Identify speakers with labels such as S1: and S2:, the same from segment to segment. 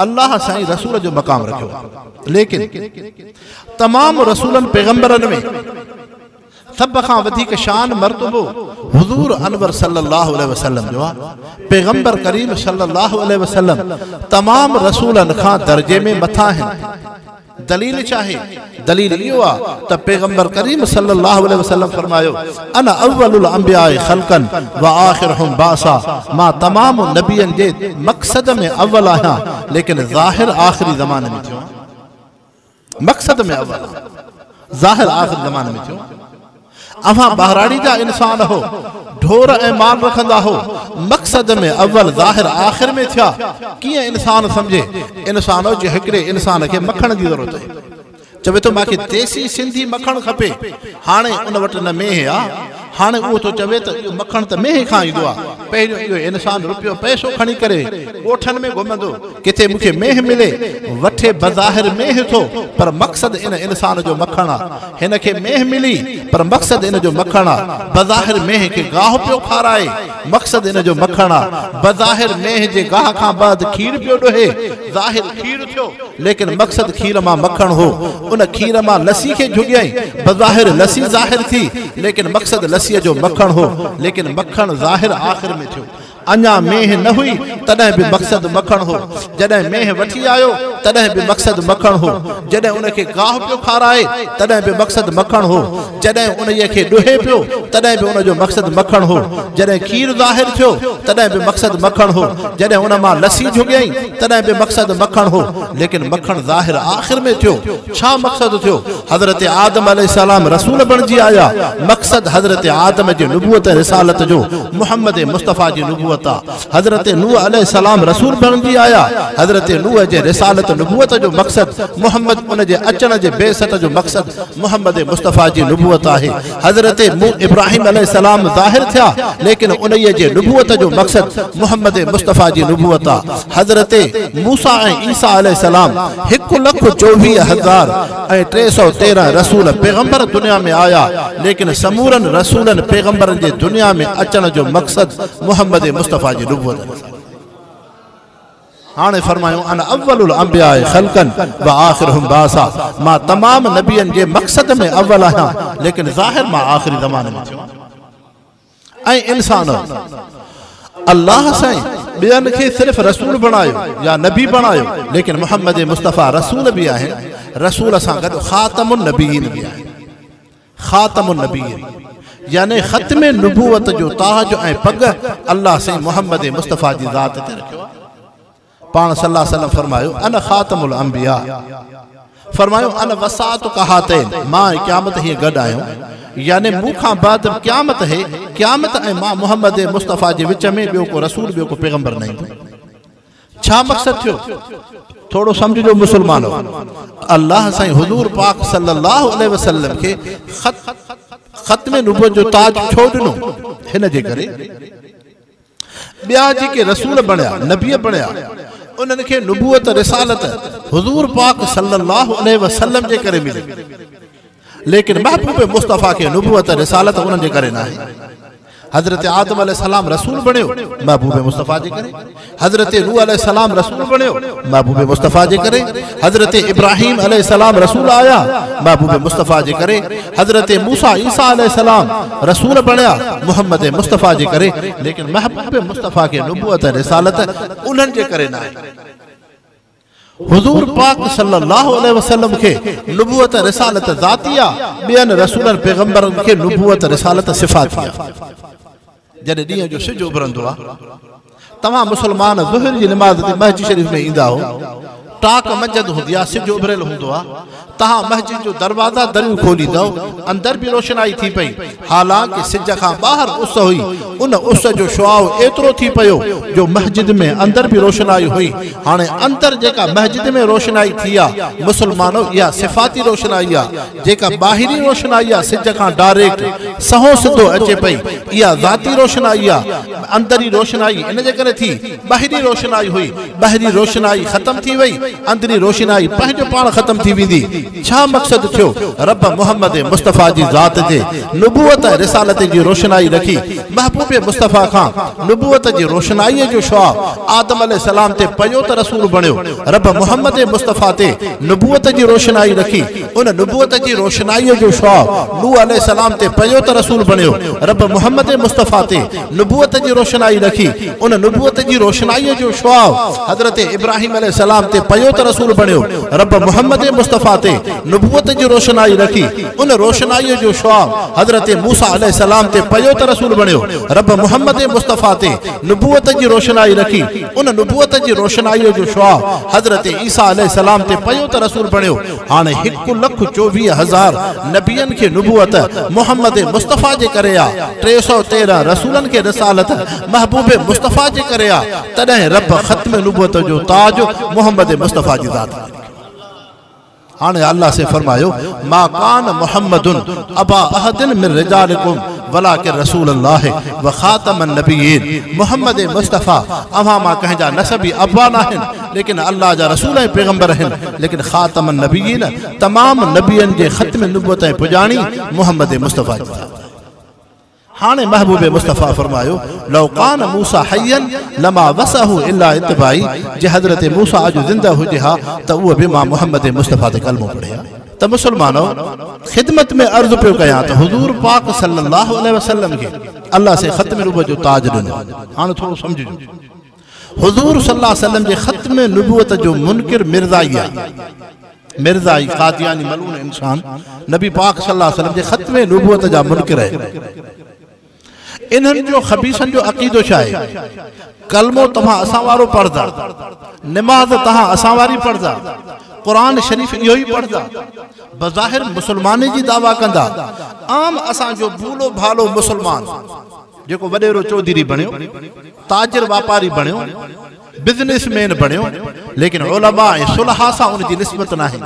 S1: الله سائين رسول جو مقام رکيو آ ليڪن تمام رسولن پيغمبرن ۾ سڀ کان وڌيڪ شان مرتبو حضور انور صلي الله عليه وسلم جو آ پيغمبر ڪريم صلي الله عليه وسلم تمام رسولن کان درجي ۾ مٿا آهن دليل ڇا آهي؟ دليل اهو آهي ته پيغمبر ڪريم صلي الله عليه وسلم فرمايو، انا اول الانبياء خلقا وآخرهم بعثا، مان تمام نبين جي مقصد ۾ اول آهيان، ليڪن ظاهر آخري زماني ۾ ٿيو آهيان. مقصد ۾ اول آهيان، ظاهر آخري زماني ۾ ٿيو آهيان. اوهان ٻهراڙي جا انسان هو، ڍور ۽ مال رکندا هو، مقصد ۾ اول ظاهر آخر ۾ ٿيا، ڪيئن انسان سمجهي، انسانو جي هڪڙي انسان کي مکڻ جي ضرورت هئي، چوي ٿو مان کي ديسي سنڌي مکڻ کپي، هاڻي ان وٽ نه مينهن آ، هاڻي اهو ٿو چوي ته اهو مکڻ ته مينهن کان ايندو آ، پهريون اهو انسان روپيو پئسو کڻي ڪري ڳوٺن ۾ گهمندو، ڪٿي مون کي مينهن ملي، وٺي بظاهر مينهن ٿو، پر مقصد ان انسان جو مکڻ آ. هن کي مينهن ملي، پر مقصد ان جو مکڻ آ. بظاهر مينهن کي گاهه پيو کارائي، مقصد ان جو مکڻ آ. بظاهر مينهن جي گاهه کان بعد کير پيو ڏوهي، ظاهر کير ٿيو، ليڪن مقصد کير مان مکڻ هو. ان کير مان لسي کي جهڳيائين، بظاهر لسي ظاهر ٿي، ليڪن مقصد لسيء جو مکڻ هو، ليڪن مکڻ ظاهر آخر ۾ ٿيو. اڃا مينهن نه هئي تڏهن به مقصد مکڻ هو، جڏهن مينهن وٺي آيو تڏهن به مقصد مکڻ هو، جڏهن ان کي گاهه پيو کارائي تڏهن به مقصد مکڻ هو، جڏهن انهيء کي ڏوهي پيو تڏهن به ان جو مقصد مکڻ هو، جڏهن کير ظاهر ٿيو تڏهن به مقصد مکڻ هو، جڏهن ان مان لسي جهڳيائين تڏهن به مقصد مکڻ هو، ليڪن مکڻ ظاهر آخر ۾ ٿيو. ڇا مقصد ٿيو؟ حضرت آدم عليه السلام رسول بڻجي آيا، مقصد حضرت آدم جي نبوت ۽ رسالت جو محمد مصطفيٰ جي نبوت آ. حضرت نوح عليه السلام رسول بڻجي آيا، حضرت نوح جي رسالت نبوت جو مقصد محمد ان جي اچڻ جي بعثت جو مقصد محمد مصطفيٰ جي نبوت آهي. حضرت ابراهيم عليه السلام ظاهر ٿيا ليڪن انهيء جي نبوت جو مقصد محمد مصطفيٰ جي نبوت آ. حضرت موسيٰ ۽ عيسيٰ عليه السلام هڪ لک چوويهه هزار ۽ ٽي سؤ تيرهن رسول پيغمبر دنيا ۾ آيا ليڪن سمورن رسولن پيغمبرن جي دنيا ۾ اچڻ جو مقصد محمد مصطفيٰ جي نبوت آ. هاڻي فرمايو انا اول الانبياء خلقا واخرهم بعثا مان تمام نبين جي مقصد ۾ اول آهيان ليڪن ظاهر مان آخري زماني ۾ ٿيو ۽ انسانو الله سائين ٻين کي صرف رسول بڻايو يا نبي بڻايو ليڪن محمد مصطفيٰ رسول به آهن رسول سان گڏ خاتم النبيين به آهن خاتم النبيين يعني ختم نبوت جو تاج ۽ پڳ الله سائين محمد مصطفيٰ جي ذات تي رکيو آهي. پاڻ صلّي الله عليه وسلّم فرمايو، انا خاتم الانبياء فرمايو، انا وساطڪ هاتين مان ۽ قيامت هيئن گڏ آهيون يعني مون کان بعد قيامت هي، قيامت ۽ مان محمد مصطفيٰ جي وچ ۾ ٻيو ڪو رسول ٻيو ڪو پيغمبر نه ايندو. ڇا مقصد ٿيو؟ ٿورو سمجهجو مسلمانو! الله سائين حضور پاڪ صلي الله عليه وسلم کي خط ختم نبوت جو تاج ڇو ڏنو؟ هن جي ڪري ٻيا جيڪي رسول بڻيا، نبي بڻيا، انهن کي نبوت، رسالت، حضور پاڪ صلي الله عليه وسلم جي ڪري ملي. ليڪن محبوب مصطفيٰ کي نبوت ۽ رسالت انهن جي ڪري ناهي. حضرت آدم عليه السلام رسول بڻيو، محبوب مصطفيٰ جي ڪري. حضرت نوح عليه السلام رسول بڻيو، محبوب مصطفيٰ جي ڪري. حضرت ابراهيم عليه السلام رسول آيا، محبوب مصطفيٰ جي ڪري. حضرت موسيٰ عيسيٰ عليه السلام رسول بڻيا، محمد مصطفيٰ جي ڪري. ليڪن محبوب مصطفيٰ کي نبوت ۽ رسالت انهن جي ڪري ناهي. حضور پاڪ صلي الله عليه وسلم کي نبوت ۽ رسالت ذاتي آ، ٻين رسولن پيغمبرن کي نبوت ۽ رسالت صفاتي آ. جڏهن ڏينهن جو سج اڀرندو آ، توهان مسلمان ظهر جي نماز تي مسجد شريف ۾ ايندا آهو، ٽاڪ منجهند هوندي آ، سج اڀريل هوندو آ، تهان مسجد جو دروازا دريون کوليندؤ، اندر به روشنائي ٿي پئي، حالانڪه سج کان ٻاهر اس هئي، ان اس جو شعاع ايترو ٿي پيو جو مسجد ۾ اندر به روشنائي هئي، هاڻي اندر جيڪا مسجد ۾ روشنائي ٿي آ، مسلمانؤ اها صفاتي روشنائي آ، جيڪا ٻاهرين روشنائي آ سج کان ڊاريڪٽ، سنهون سڌو اچي پئي، اها ذاتي روشنائي آ، اندرين روشنائي ان جي ڪري ٿي. ٻاهرين روشنائي هئي، ٻاهرين روشنائي ختم ٿي وئي، اندرين روشنائي پنهنجو پاڻ ختم ٿي ويندي. ڇا مقصد ٿيو؟ رب محمد مصطفيٰ جي ذات تي نبوت ۽ رسالت جي روشنائي رکي، محبوب مصطفيٰ کان نبوت جي روشنائيء جو شعاع آدم عليه السلام تي پيو ته رسول بڻيو، رب محمد مصطفيٰ تي نبوت جي روشنائي رکي، ان نبوت جي روشنائيء جو شعاع نوح عليه السلام تي پيو ته رسول بڻيو، رب محمد مصطفيٰ تي نبوت جي روشنائي رکي ان نبوت جي روشنائي جو شعاع حضرت ابراهيم عليه السلام تي پيو ته رسول بڻيو رب محمد مصطفيٰ تي نبوت جي روشنائي رکي ان روشنائي جو شعاع حضرت موسيٰ عليه السلام تي پيو ته رسول بڻيو رب محمد مصطفيٰ تي نبوت جي روشنائي رکي ان نبوت جي روشنائي جو شعاع حضرت عيسيٰ عليه السلام تي پيو ته رسول بڻيو هاڻ هڪ لک چوويهه هزار نبين کي نبوت محمد مصطفيٰ جي ڪري آ، ٽي سؤ تيرهن رسولن کي رسالت محبوب مصطفيٰ جي ڪري آ، تڏهن رب ختم نبوت جو تاج محمد مصطفيٰ جي ذات کي ڏنو. هاڻ الله سين فرمايو، ما ڪان محمد ابا احد من رجالڪم ولٰڪن رسول الله وخاتم النبيين، محمد مصطفيٰ اوهان مان ڪنهن جا نسبي ابا ناهن، ليڪن الله جا رسول ۽ پيغمبر آهن ليڪن خاتم النبيين تمام نبين جي ختم نبوت ۽ پڄاڻي محمد مصطفيٰ جي ذات آهي هاڻي محبوب مصطفيٰ فرمايو لو ڪان موسٰي حيا لما وسعه الا اتباعي جي حضرت موسٰي اڄ زنده هجي ها ته اهو به مان محمد مصطفيٰ تي ڪلمو پڙهي ها ته مسلمانو خدمت ۾ عرض پيو ڪيان ته حضور پاڪ صلي الله عليه وسلم کي الله سي ختم نبوت جو تاج ڏنو هاڻي ٿورو سمجهجو حضور صلي الله عليه وسلم جي ختم نبوت جو منڪر مرزائي آ مرزائي قادياني ملعون انسان نبي پاڪ صلي الله عليه وسلم جي ختم نبوت جا منڪر آهن انهن جو خبيثن جو عقيدو ڇا آهي ڪلمو توهان اسان وارو پڙهدا نماز توهان اسان واري پڙهدا قرآن شريف اهو ئي پڙهدا بظاهر مسلماني جي دعويٰ ڪندا عام اسان جو ڀولو ڀالو مسلمان جيڪو وڏيرو چوڌري بڻيو، تاجر واپاري بڻيو، بزنس مين بڻيو، ليڪن علماء ۽ صلحاء سان ان جي نسبت ناهي،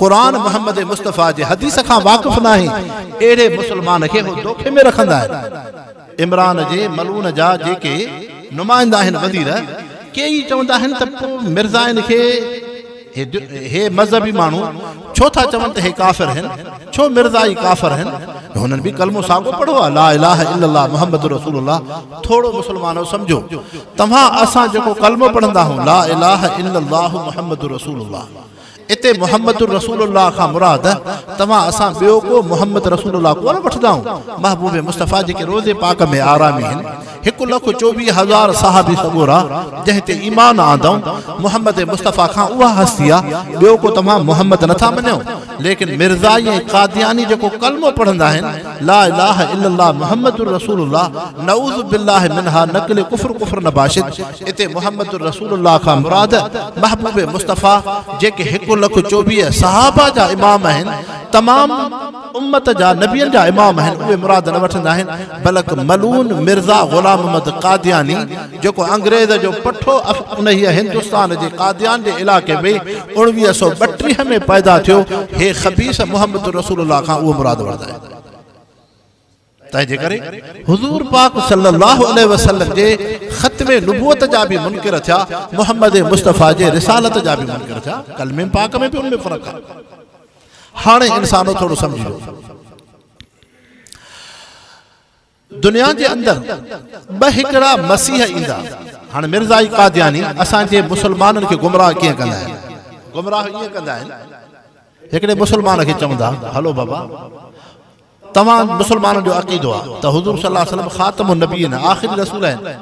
S1: قرآن محمد مصطفيٰ جي حديث کان واقف ناهي، اهڙي مسلمان کي هو دوکي ۾ رکندا آهن. عمران جي ملعون جا جيڪي نمائندا آهن وزير، ڪي ئي چوندا آهن ته پوء مرزائن کي. هي مذهبي ماڻهو ڇو ٿا چون ته هي ڪافر هين ڇو مرزا ئي ڪافر هين هنن به ڪلمو ساڳو پڙهو آهي لا اله الا الله محمد رسول الله ٿورو مسلمانو سمجهو توهان اسان جيڪو ڪلمو پڙهندا آهون لا اله الا الله محمد رسول الله اتي محمد رسول الله کان مراد توهان اسان ٻيو ڪو محمد رسول الله ڪونه وٺندا آهون محبوب مصطفي جيڪي روزي پاڪ ۾ آرامي هن هڪ لک چوويهه هزار صحابي سڳورا جنهن تي ايمان آندئون، محمد مصطفيٰ کان اها هستي آ، ٻيو ڪو توهان محمد نه ٿا مڃئو، ليڪن مرزائي ۽ قادياني جيڪو ڪلمو پڙهندا آهن، لا اله الا الله محمد رسول الله، نعوذ بالله منها نقل ڪفر ڪفر نباشد، اتي محمد رسول الله کان مراد محبوب مصطفيٰ جيڪي هڪ لک چوويهه صحابه جا امام آهن، تمام. امت جا نبين جا امام آهن اهي مراد نه وٺندا آهن بلڪ ملعون مرزا غلام محمد قادياني جيڪو انگريز جو پٺو انهيء هندستان جي قاديان جي علائقي ۾ اوڻويهه سؤ ٻٽيهه ۾ پيدا ٿيو هي خبيث محمد رسول الله کان اهو مراد وٺندا آهن تنهنجي ڪري حضور پاڪ صلي الله عليه وسلم جي ختم نبوت جا به منڪر ٿيا، محمد مصطفيٰ جي رسالت جا به منڪر ٿيا، ڪلمي پاڪ ۾ به ان ۾ فرق آهي. هاڻي انسانو ٿورو سمجهجو. دنيا جي اندر ٻه هڪڙا مسيح ايندا. هاڻي مرزائي قادياني اسان جي مسلمانن کي گمراهه ڪيئن ڪندا آهن؟ گمراهه ائين ڪندا آهن هڪڙي مسلمان کي چوندا هلو بابا! توهان مسلمانن جو عقيدو آ ته حضور صلي الله عليه وسلم خاتم النبين آخري رسول آهن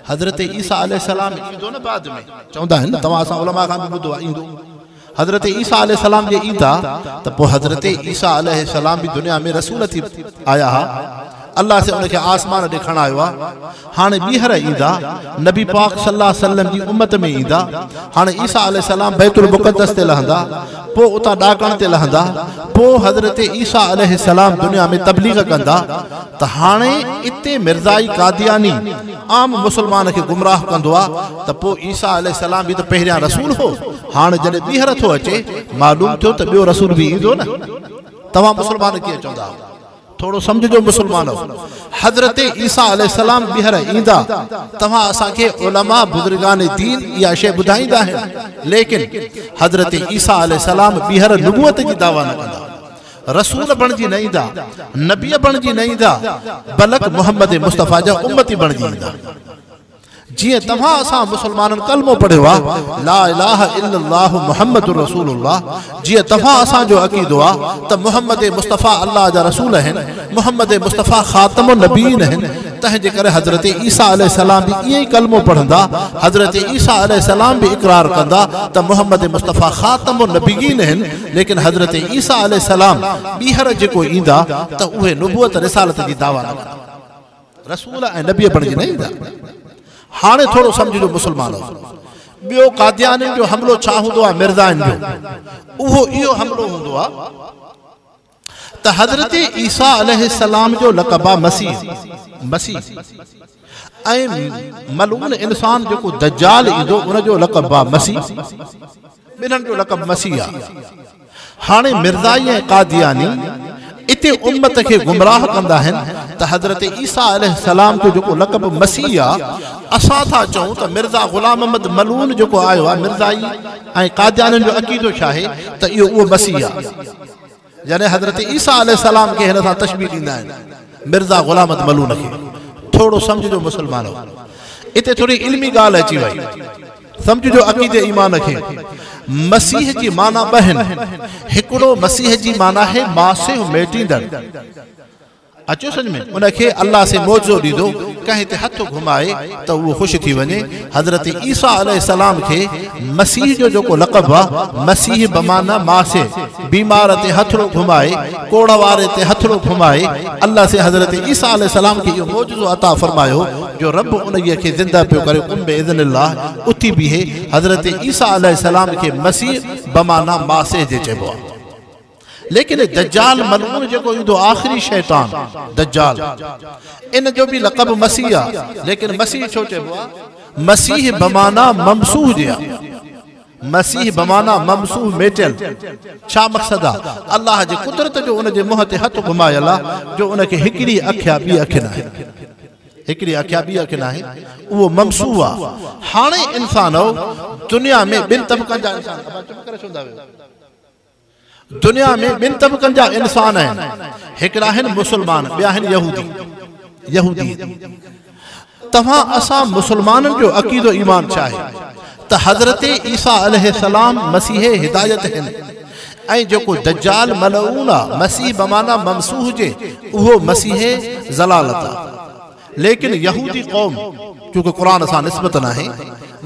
S1: حضرت عيسيٰ عليه السلام ايندو نه بعد ۾ چوندا آهن نه توهان اسان علماء کان به ٻڌو آ ايندو حضرت عيسيٰ عليه السلام جي ايندا ته پوء حضرت عيسيٰ عليه السلام به دنيا ۾ رسول ٿي آيا ها الله سي ان کي آسمان ڏي کڻايو آ هاڻي ٻيهر ايندا، نبي پاڪ صلي الله عليه وسلم جي امت ۾ ايندا. هاڻي عيسيٰ عليه السلام بيت المقدس تي لهندا، پوء اتان ڏاڪڻ تي لهندا، پوء حضرت عيسيٰ عليه السلام دنيا ۾ تبليغ ڪندا ته هاڻي اتي مرزائي قادياني عام مسلمان کي گمراهه ڪندو آ ته پوء عيسيٰ عليه السلام به ته پهريان رسول هو، هاڻي جڏهن ٻيهر ٿو اچي معلوم ٿيو ته ٻيو رسول به ايندو نه توهان مسلمان ڪيئن چوندا آهيو. ٿورو سمجهجو مسلمانؤ! حضرت عيسيٰ عليه السلام ٻيهر ايندا، توهان اسان کي علماء بزرگان دين اها شيء ٻڌائيندا آهن، ليڪن حضرت عيسيٰ عليه السلام ٻيهر نبوت جي دعويٰ نه ڪندا. رسول بڻجي نه ايندا، نبيء بڻجي نه ايندا، بلڪ محمد مصطفيٰ جا امتي بڻجي ايندا. جيئن توهان اسان مسلمانن ڪلمو پڙهيو آ لا اله الا الله محمد رسول الله جيئن توهان اسان جو عقيدو آ ته محمد مصطفي الله جا رسول اهن محمد مصطفي خاتم النبيين اهن تنهن جي ڪري حضرت عيسيٰ عليه السلام به ائين ئي ڪلمو پڙهندا حضرت عيسيٰ عليه السلام به اقرار ڪندا ته محمد مصطفي خاتم النبيين اهن ليڪن حضرت عيسيٰ عليه السلام ٻيهر جيڪو ايندا ته اهي نبوت رسالت جي دعويٰ نه ڪندا رسول ۽ نبي بڻجي نه ايندا. هاڻي ٿورو سمجهجو مسلمانو! ٻيو قاديانين جو حملو ڇا هوندو آهي مرزائن جو؟ اهو اهو حملو هوندو آهي ته حضرت عيسيٰ عليه السلام جو لقب آهي مسيح، مسيح، ۽ ملعون انسان جيڪو دجال ايندو ان جو لقب آهي مسيح. ٻنهن جو لقب مسيح آ. هاڻي مرزائي ۽ قادياني اتي امت کي گمراهه ڪندا آهن ته حضرت عيسيٰ عليه السلام جو جيڪو لقب مسيح آ اسان ٿا چئون ته مرزا غلام محمد ملعون جيڪو آيو آ مرزائي ۽ قاديانين جو عقيدو ڇاهي ته اهو اهو مسيح آ. جڏهن حضرت عيسيٰ عليه السلام کي هن سان تشبيهه ڏيندا آهن مرزا غلام احمد ملون کي ٿورو سمجهجو مسلمانو اتي ٿوري علمي ڳالهه اچي وئي سمجهجو عقيدي ايمان کي مسيح جي معنيٰ ٻه آهن هڪڙو مسيح جي معنيٰ آهي ماسيو ميٽيندڙ اچيو سمجهه ۾، ان کي الله سين معجزو ڏيندو، ڪنهن تي هٿ گهمائي ته اهو خوش ٿي وڃي، حضرت عيسيٰ عليه السلام کي مسيح جو جيڪو لقب هو، مسيح بمعنيٰ ماسح، بيمار تي هٿڙو گهمائي، ڪوڙهه واري تي هٿڙو گهمائي، الله سين حضرت عيسيٰ عليه السلام کي اهو معجزو عطا فرمايو جو رب انهيء کي زنده پيو ڪري قم باذن الله اٿي بيهي، حضرت عيسيٰ عليه السلام کي مسيح بمعنيٰ ماسح جي چئبو آهي. ليڪن هي دجال ملعون جيڪو ايندو آخري شيطان دجال ان جو به لقب مسيح آ ليڪن مسيح ڇو چئبو آ مسيح بمعنيٰ ممسوح جي آ مسيح بمانا ممسوح ميٽيل ڇا مقصد آ الله جي قدرت جو ان جي منهن تي هٿ گهمايل آ جو ان کي هڪڙي اک يا ٻي اک ناهي هڪڙي اک يا ٻي اک ناهي اهو ممسوح آ هاڻي انسان دنيا ۾ ٻن طبقن جا انسان دنيا ۾ ٻن طبقن جا انسان آهن، هڪڙا آهن مسلمان، ٻيا آهن يهودي، Yahudi. توهان اسان مسلمانن جو عقيدو ايمان ڇا آهي ته حضرت عيسيٰ عليه السلام مسيح هدايت هن ۽ جيڪو دجال ملعون آ، مسيح بمعنيٰ ممسوح جي، اهو مسيح ضلالت آ. ليڪن يهودي قوم چونڪه قرآن سان نسبت ناهي،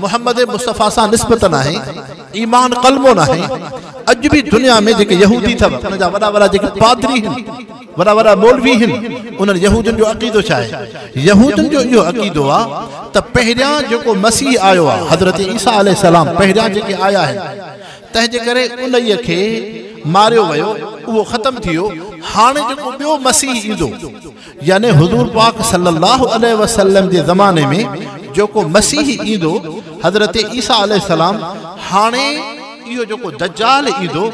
S1: محمد مصطفيٰ سان نسبت ناهي، ايمان ڪلمو ناهي، اڄ به دنيا ۾ جيڪي يهودي اٿو انهن جا وڏا وڏا جيڪي پادري هن، وڏا وڏا مولوي هن، انهن يهودين جو عقيدو ڇا آهي؟ يهودين جو اهو عقيدو آ ته پهريان جيڪو مسيح آيو آ حضرت عيسيٰ عليه السلام پهريان جيڪي آيا آهن تنهن جي ڪري انهيء کي ماريو ويو اهو ختم ٿي ويو هاڻي جيڪو ٻيو مسيح ايندو يعني حضور پاڪ صلّي اللّٰه عليه وسلّم جي زماني ۾ جيڪو مسيحي ايندو، حضرت عيسيٰ عليه السّلام، هاڻي اهو جيڪو دجّال ايندو،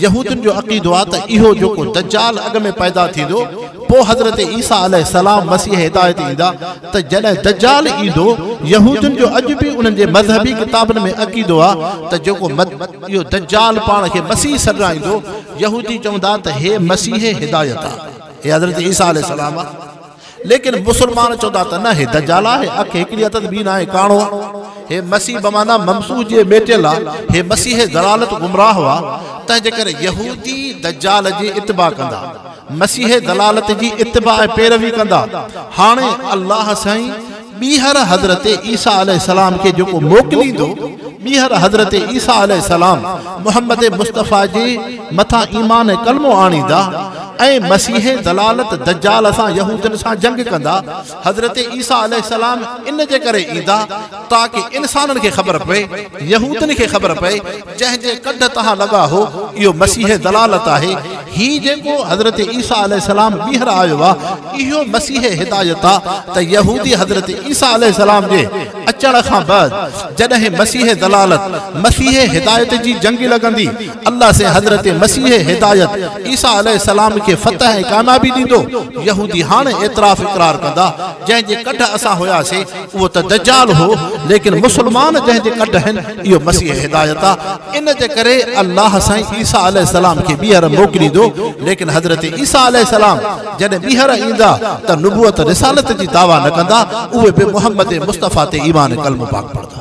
S1: يهودين جو عقيدو آهي ته اهو جيڪو دجّال اڳ ۾ پيدا ٿيندو، پوء حضرت عيسيٰ عليه السّلام مسيح هدايت ايندا ته جڏهن دجّال ايندو، يهودين جو اڄ به انهن جي مذهبي ڪتابن ۾ عقيدو آهي ته جيڪو اهو دجّال پاڻ کي مسيح سڏرائيندو، يهودي چوندا ته هي مسيح هدايت آهي. هي حضرت عيسيٰ عليه السلام آ ليڪن مسلمان چوندا ته نه هي دجال آ هي اک هڪڙي هٿ ٻي ناهي ڪاڻو آ هي مسيح بمعنيٰ ممسوح جي ميٽيل آ هي مسيح ضلالت گمراهه آ تنهنجي ڪري يهودي دجال جي اتباع ڪندا مسيح ضلالت جي اتباع ۽ پيروي ڪندا هاڻي الله سائين ٻيهر حضرت عيسيٰ عليه السلام کي جيڪو موڪليندو، ٻيهر حضرت عيسيٰ عليه السلام محمد مصطفيٰ جي مٿان ايمان ۽ ڪلمو آڻيندا ۽ مسيح ضلالت دجال سان يهودين سان جنگ ڪندا. حضرت عيسيٰ عليه السلام ان جي ڪري ايندا تاڪه انسانن کي خبر پئي، يهودين کي خبر پئي، جنهن جي ڪنڌ تان لڳا هو، اهو مسيح ضلالت آهي، هي جيڪو حضرت عيسيٰ عليه السلام ٻيهر آيو آ، اهو مسيح هدايت آ ته يهودي حضرت عيسيٰ عليه السلام جي اچڻ کان بعد جڏهن مسيح ضلالت مسيح هدايت جي جنگ لڳندي، الله سين حضرت مسيح هدايت عيسيٰ عليه السلام کي فتح ۽ ڪاميابي ڏيندو، يهودي هاڻ اعتراف اقرار ڪندا، جنهن جي ڪنڌ اسان هياسين. اهو ته دجال هو ليڪن مسلمان جنهن جي ڪڍ آهن اهو مسيح هدايت آ ان جي ڪري الله سائين عيسيٰ عليه السلام کي ٻيهر موڪليندو ليڪن حضرت عيسيٰ عليه السلام جڏهن ٻيهر ايندا ته نبوت رسالت جي دعويٰ نه ڪندا اهي به محمد مصطفيٰ تي ايمان ڪلمو پاڪ پڙهندا.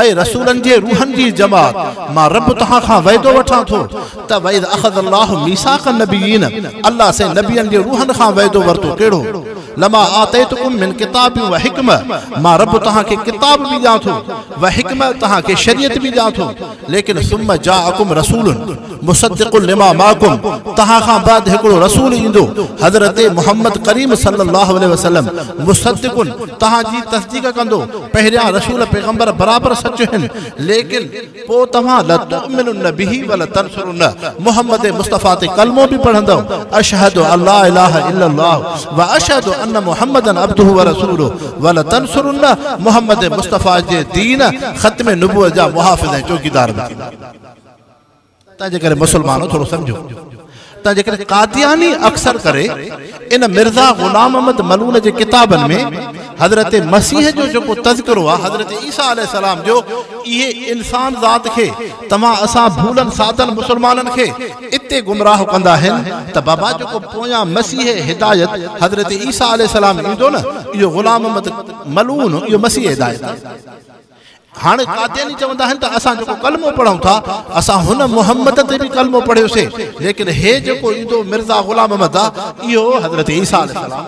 S1: اي رسولن جي روحن جي جماعت! مان رب توهان کان وعدو وٺان ٿو ته واذ اخذ الله ميثاق النبيين الله سين نبين جي روحن کان وعدو ورتو ڪهڙو لما آتيتڪم من ڪتاب وحڪمة مان رب توهان کي ڪتاب به ڏيان ٿو وحڪمة توهان کي شريعت به ڏيان ٿو ليڪن ثم جاءڪم رسول مصدق لما معکم توهان کان بعد هڪڙو رسول ايندو حضرت محمد ڪريم صلي الله عليه وسلم مصدق توهان جي تصديق ڪندو پهريان رسول پيغمبر برابر سچ هن ليڪن پوء توهان لتؤمنن به ولتنصرن محمد مصطفي تي ڪلمو به پڙهندؤ اشهد الله اله الا الله واشهد ان محمدا عبده ورسوله ولتنصرن محمد مصطفي جي دين ختم نبوت جا محافظ ۽ چوڪيدار به ٿيندا تنهنجي ڪري مسلمانو ٿورو سمجهو ته جيڪڏهن قادياني اڪثر ڪري ان مرزا غلام احمد ملون جي ڪتابن ۾ حضرت مسيح جو جيڪو تذڪرو آهي حضرت عيسيٰ عليه السلام جو اهي انسان ذات کي توهان اسان ڀولن سادن مسلمانن کي اتي گمراهه ڪندا آهن ته بابا جيڪو پويان مسيح هدايت حضرت عيسيٰ عليه السلام ايندو نه اهو غلام احمد ملون اهو مسيح هدايت آهي هاڻي قادياني چوندا آهن ته اسان جيڪو ڪلمو پڙهون ٿا اسان هن محمد تي به ڪلمو پڙهيوسين ليڪن هي جيڪو ايندو مرزا غلام احمد آ اهو حضرت عيسيٰ عليه السلام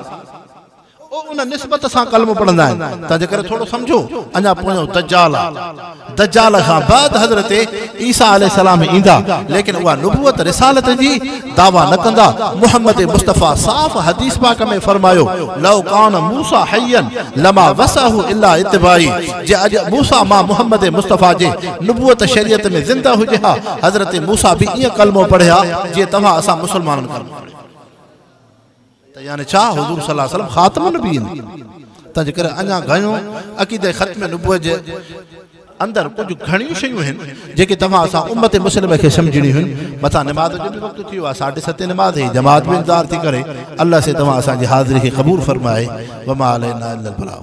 S1: او ان نسبت سان ڪلمو پڙهندا آهن تنهن جي ڪري ٿورو سمجهو اڃا پويون دجال آ دجال کان بعد حضرت عيسيٰ عليه السلام ايندا ليڪن اها نبوت رسالت جي دعويٰ نه ڪندا، محمد مصطفيٰ صاف حديث پاڪ ۾ فرمايو، لو ڪان موسٰي حيا لما وسعه الا اتباعي، جي اڄ موسٰي ماء محمد مصطفيٰ جي نبوت شريعت ۾ زنده هجي ها، حضرت موسٰي به ائين ڪلمو پڙهي ها جيئن توهان اسان مسلمانن ڪلمو پڙهيو. ته يعني ڇا حضور صلي الله عليه وسلم خاتم النبيين تنهنجي ڪري اڃا گهڻو عقيده ختم نبوت جي اندر ڪجهه گهڻيون شيون هن جيڪي توهان اسان امت مسلمه کي سمجهڻيون هن مٿان نماز جو به وقت ٿي ويو آهي ساڍي ستين نماز هي جماعت به انتظار ٿي ڪري الله سي توهان اسان جي حاضري کي قبول فرمائي وما علينا الا البلاغ